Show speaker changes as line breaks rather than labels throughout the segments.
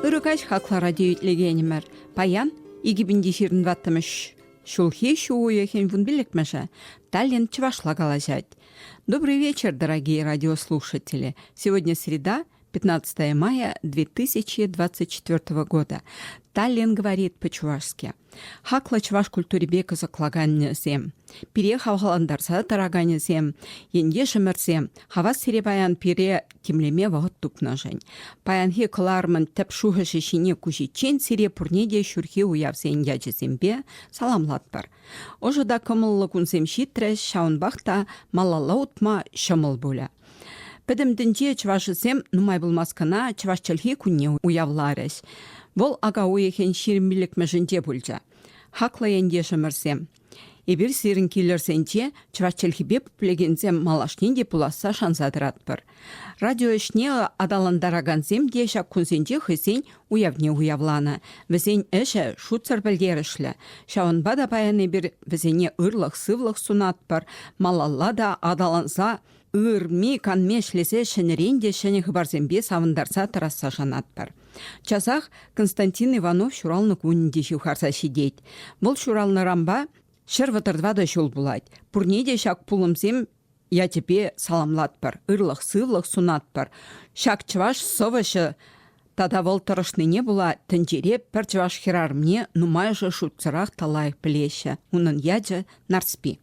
Ырӑ каҫ хаклӑ радиоитлекенӗмӗр. Паян 2025 ҫулхи ҫу уйӑхӗн вун пиллӗкмӗшӗ Таллин чӑвашла калаҫать. Добрый вечер, дорогие радиослушатели. Сегодня среда, 15 мая 2024 года. Таллин говорит по-чувашски. Хаклӑ чӑваш культурипе кӑсӑклаканӗсем, пире хавхалантарса тӑраканӗсем, ентешӗмӗрсем, хавас сире паян пире тимлеме вӑхӑт тупнӑшӑн. Паянхи кӑларӑмӑн тӗп шухӑшӗ ҫине куҫиччен сире пурне те ҫурхи уявсен ячӗсемпе саламлатпӑр. Ӑшӑ та кӑмӑллӑ кунсем ҫитрӗҫ, ҫавӑнпах та малалла утма ҫӑмӑл пулӗ. Пӗтӗм тӗнче чӑвашӗсем нумай пулмасть кӑна чӑваш чӗлхи кунне уявларӗҫ. Вӑл ака уйӑхӗн ҫирӗм пӗлӗтмӗшӗнче пулчӗ. Хаклӑ ентешӗмӗрсем, эпир сирӗн килӗрсенче чӑваш чӗлхипе пӗлекенсем малашне те пуласса шанса тӑратпӑр. Радио ӗҫне аталантаракансем те ҫак кунсенче хӑйсен уявне уявланӑ. Вӗсен ӗҫӗ шутсӑр пӗлтерӗшлӗ. Ҫавӑнпа та паян эпир вӗсене ырлӑх-сывлӑх сунатпӑр, малалла та аталанса ырми-канми ӗҫлесе ҫӗнӗрен те ҫӗнӗ хыпарсемпе савӑнтарса тӑрасса шанатпӑр. Часах Константин Иванов ҫуралнӑ кунӗ те ҫывхарса ҫитет. Вӑл ҫуралнӑранпа ҫӗр вӑтӑр тӑватӑ ҫул пулать. Пурне те ҫак пулӑмсем ячӗпе саламлатпӑр, ырлӑх-сывлӑх сунатпӑр. Ҫак чӑваш сӑвӑҫӑ тата вӑл тӑрӑшнине пула тӗнчере пӗр чӑваш хӗрарӑмне нумайӑшӗ шутсӑрах та лайӑх пӗлеҫҫӗ. Унӑн ячӗ Нарспи.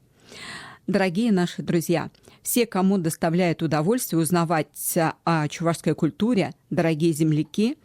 Дорогие наши друзья, все, кому доставляет удовольствие узнавать о чувашской культуре, дорогие земляки –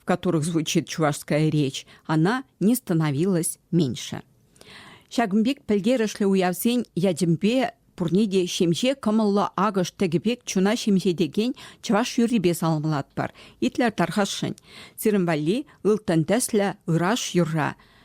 в которых звучит чувашская речь, она не становилась меньше. Ҫакӑн пек пӗлтерӗшлӗ уявсен ячӗпе пурне те ҫемҫе кӑмӑллӑ акӑш тӗкӗ пек чуна ҫемҫетекен чӑваш юррипе саламлатпӑр. Итлӗр тархасшӑн. Сирӗн валли ылтӑн тӗслӗ ыраш юрра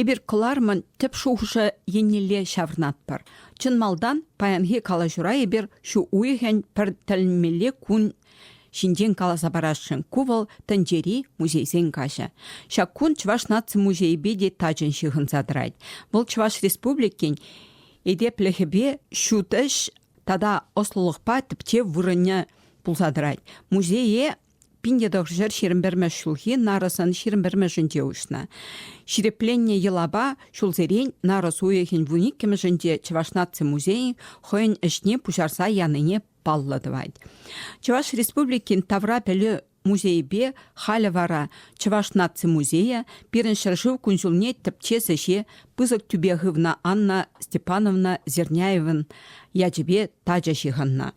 Эпир кӑларӑмӑн тӗп шухӑшӗ еннелле ҫаврӑнатпӑр. Чӑн малтан паянхи калаҫура эпир ҫу уйӑхӗн пӗр тӗлӗнмелле кун ҫинчен каласа парасшӑн. Ку вӑл тӗнчери музейсен каҫӗ. Ҫак кун Чӑваш наци музейӗпе те тачӑн ҫыхӑнса тӑрать. Вӑл Чӑваш Республикин этеплӗхӗпе ҫут ӗҫ тата ӑслӑлӑхпа тӗпчев вырӑнӗ пулса тӑрать. Музее Пин ҫӗр ҫирӗм пӗрмӗш ҫулхи нарӑсӑн ҫирӗм пӗрмӗшӗнче уҫнӑ. Ҫирӗпленнӗ йӑлапа ҫулсерен нарӑс уйӑхӗн вун иккӗмӗшӗнче Чӑваш наци музейӗн хӑйӗн ӗҫне пуҫарса янине паллӑ тӑвать. Чӑваш Республикин тавра пӗлӳ музейӗпе халӗ вара Чӑваш наци музейӗ пирӗн ҫӗршыв кун-ҫулне тӗпчес ӗҫе пысӑк тӳпе хывнӑ Анна Степановна Зерняевӑн ячӗпе тачӑ ҫыхӑннӑ.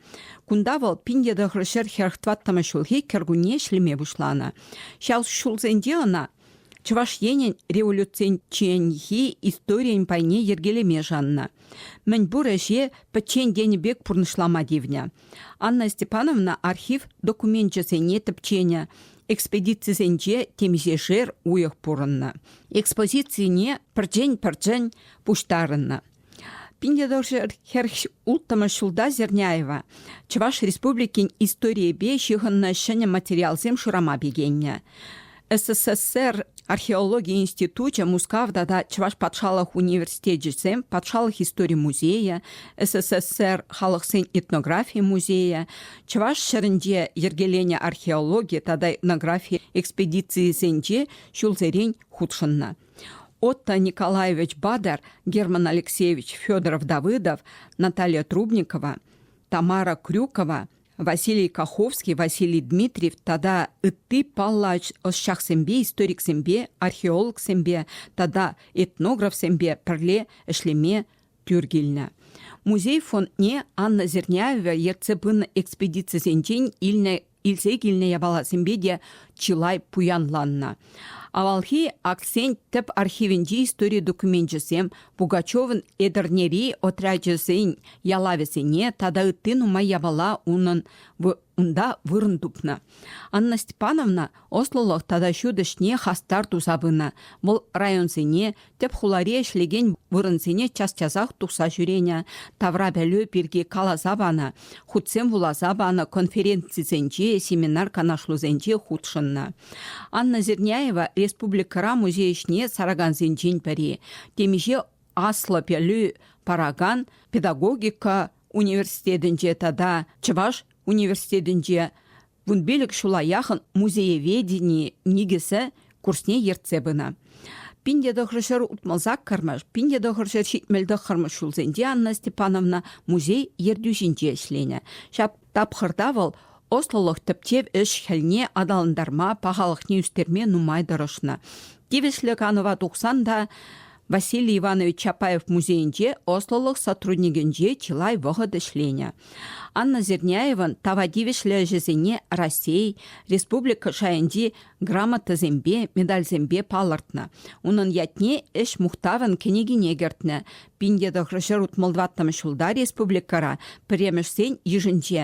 Кунта вӑл пин тӑхӑр ҫӗр хӗрх тӑваттӑмӗш ҫулхи кӗркунне ӗҫлеме пуҫланӑ. Ҫав ҫулсенче ӑна Чӑваш Енӗн революцинченхи историйӗн пайне йӗркелеме шаннӑ. Мӗнпур ӗҫе пӗччен тенӗ пек пурнӑҫлама тивнӗ. Анна Степановна архив докуменчӗсене тӗпченӗ, экспедицисенче темиҫешер уйӑх пурӑннӑ. Экспозицине пӗрчен-пӗрчен пуҫтарӑннӑ. Пин тӑршер хӗрч улттӑмӗш ҫулта Зерняева Чӑваш Республикин историйӗпе ҫыхӑннӑ ҫӗнӗ материалсем шырама пикеннӗ. СССР археологи институчӗ Мускав тата Чӑваш патшалӑх университечӗсем патшалӑх истори музейӗ, СССР халӑхсен этнографи музейӗ, Чӑваш ҫӗрӗнче йӗркеленӗ археологи тата этнографи экспедицийӗсенче ҫулсерен хутшӑннӑ. Отто Николаевич Бадер, Герман Алексеевич Федоров Давыдов, Наталья Трубникова, Тамара Крюкова, Василий Каховский, Василий Дмитриев тата ытти паллӑ ӑсчахсемпе, историксемпе, археологсемпе тата этнографсемпе пӗрле ӗҫлеме тӳр килнӗ. Музей фондне Анна Зерняева ертсе пынӑ экспедицисенчен илнӗ Илсе килнӗ япаласемпе те чылай пуянланнӑ. Авалхи Аксен тӗп архивӗнчи истори докуменчӗсем Пугачевӑн Этӗрнери отрячӗсен ялавӗсене тата ытти нумай япала унӑн унта вырӑн тупнӑ. Анна Степановна ӑслӑлӑх тата ҫут ӗҫне хастар туса пынӑ. Вӑл районсене Тӗп хулари ӗҫлекен вырӑнсене час-часах тухса ҫӳренӗ, тавра пӗлӳ пирки каласа панӑ, хутсем вуласа панӑ, конференцисенче, семинар-канашлусенче хутшӑннӑ. Анна Зерняева республикӑра музей ӗҫне саракансенчен пӗри, темиҫе аслӑ пӗлӳ паракан педагогика университетӗнче тата Чӑваш университетӗнче Вун пилӗк ҫула яхӑн музееведени никӗсӗ курсне ертсе пынӑ. Пин те тӑхӑрҫӗр утмӑл саккӑрмӗш, пин те тӑхӑрҫӗр ҫитмӗл тӑххӑрмӗш ҫулсенче Анна Степановна музей ертӳҫинче ӗҫленӗ. Ҫак тапхӑрта вӑл ӑслӑлӑх тӗпчев ӗҫ-хӗлне аталантарма, пахалӑхне ӳстерме нумай тӑрӑшнӑ. Тивӗҫлӗ канӑва тухсан та Василий Иванович Чапаев музейӗнче ӑслӑлӑх сотрудникӗнче чылай вӑхӑт ӗҫленӗ. Анна Зерняеван тава тивӗҫлӗ ӗҫӗсене Раҫҫей, республика шайӗнчи грамотӑсемпе, медальсемпе палӑртнӑ. Унӑн ятне Ӗҫ мухтавӗн кӗнекине кӗртнӗ. Пин тӑхрӑ ҫӗр утмӑл тӑваттӑмӗш ҫулта республикӑра пӗрремӗшсен йышӗнче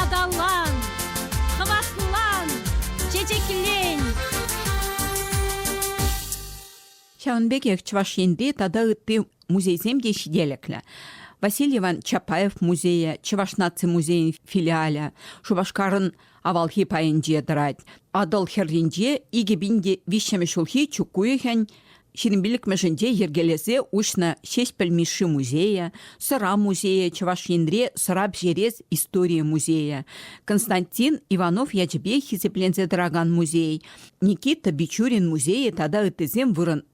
Аталан, хӑватлан, чечеклен.
Ҫавӑн пекех Чӑваш Енри тата ытти музейсем те ҫителӗклӗ. Василий Иван Чапаев музейӗ, Чӑваш наци музейӗн филиалӗ, Шупашкарӑн Авалхи пайӗнче тӑрать. Атӑл хӗрринче икӗ пин те виҫҫӗмӗш ҫулхи чӳк уйӑхӗн ҫирӗмпиллӗкмӗшӗнче йӗркелесе уҫнӑ Ҫеҫпӗл Мишши музейӗ, Сӑра музейӗ, Чӑваш Енре сӑра пӗҫерес историйӗ музейӗ, Константин Иванов ячӗпе хисепленсе тӑракан музей, Никита Бичурин музейӗ тата ыттисем вырӑн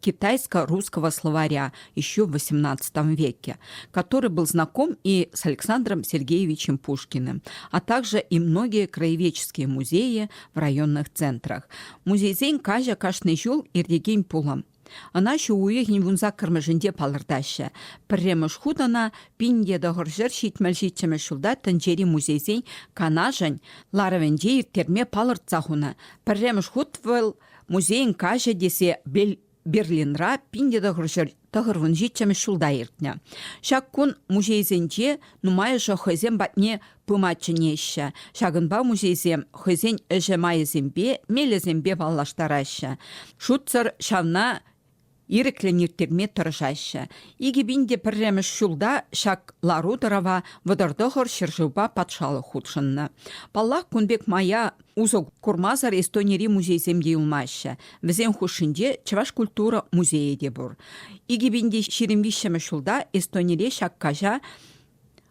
китайско-русского словаря еще в XVIII веке, который был знаком и с Александром Сергеевичем Пушкиным, а также и многие краеведческие музеи в районных центрах. Музейсен каҫа кашни ҫул иртекен пулӑм. Ӑна ҫу уйӑхӗн вунсаккӑрмӗшӗнче палӑртаҫҫӗ. Пӗрремӗш хут ӑна пин тӑхӑр ҫӗр ҫитмӗл ҫиччӗмӗш ҫулта тӗнчери музейсен канашӗн ларӑвӗнче ирттерме палӑртса хунӑ. Пӗрремӗш хут вӑл музейӗн каҫӗ тесе Берлинра пин тӑхӑр ҫӗр тӑхӑрвун ҫиччӗмӗш ҫулта иртнӗ. Ҫак кун музейсенче нумайӑшӗ хӑйсем патне пыма чӗнеҫҫӗ. Ҫакӑнпа музейсем хӑйсен ӗҫӗ майӗсемпе, мелӗсемпе паллаштараҫҫӗ. Шутсӑр ҫавна ирӗклӗн ирттерме тӑрӑшаҫҫӗ. Икӗ пин те пӗрремӗш ҫулта ҫак лару-тӑрӑва вӑтӑртӑхӑр ҫӗршывпа патшалӑх хутшӑннӑ. Паллах, кун пек мая усӑ курмасӑр Эстонири музейсем те юлмаҫҫӗ. Вӗсен хушшинче Чӑваш культура музейӗ те пур. Икӗ пин те ҫирӗм виҫҫӗмӗш ҫулта Эстонире ҫак каҫа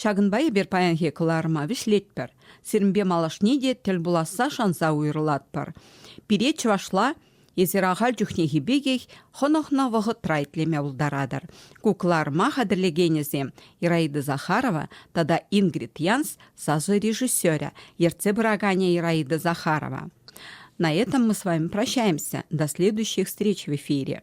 Ҫакӑнпа эпир паянхи кӑларӑма вӗҫлетпӗр. Сирӗнпе малашне те тӗл пуласса шанса уйрӑлатпӑр. Пире чӑвашла эсир ахаль чухнехи пекех хӑнӑхнӑ вӑхӑтра итлеме пултаратӑр. Ку кӑларӑма хатӗрлекенӗсем Ираида Захарова тата Ингрид Янс сасӑ режиссерӗ, ертсе пыраканӗ Ираида Захарова. На этом мы с вами прощаемся. До следующих встреч в эфире.